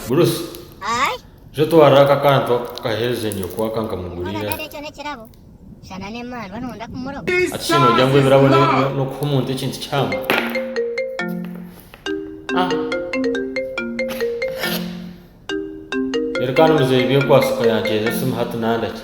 Bruce, zo twara aka akantu ako kahereze nyoko aka nkamuguriire aha. Hati shi noogira ngu ebirabo n'okuha omuntu ekintu kihango? Reero kandi muzeeyi Byekwaso ka yaanceeza esimu hati nandakye.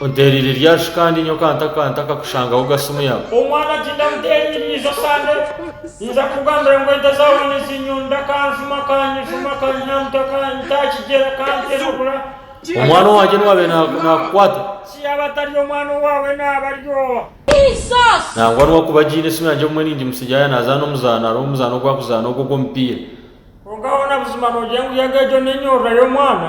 Onteereire rya shi kandi nyowe ka ntakakushangaho ogase omu yaawe? Omwana ati, Ndamuteereire ijo sande. Ninza kukugambira ngu ente zaawe nizinyunda, kanjuma, kanyijuma, kanyamuta, kanyita kigyera, kantemagura. Omwana owangye nwabaire naakukwata? Si yaaba atari omwana owaawe naaba ari owa? Nangwa nwakuba agiine esimu yangye obumwe ningimutsigira yaaba naazaana omuzaano hariho omuzaano ogu arikuzaana ogwo ogw'omupiira. Kwonka hoona buzima noogira ngu yaaba egyo n'enyorora y'omwana?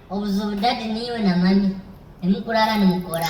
Obuzibu daddy niiwe na mummy nimukuraara nimukora.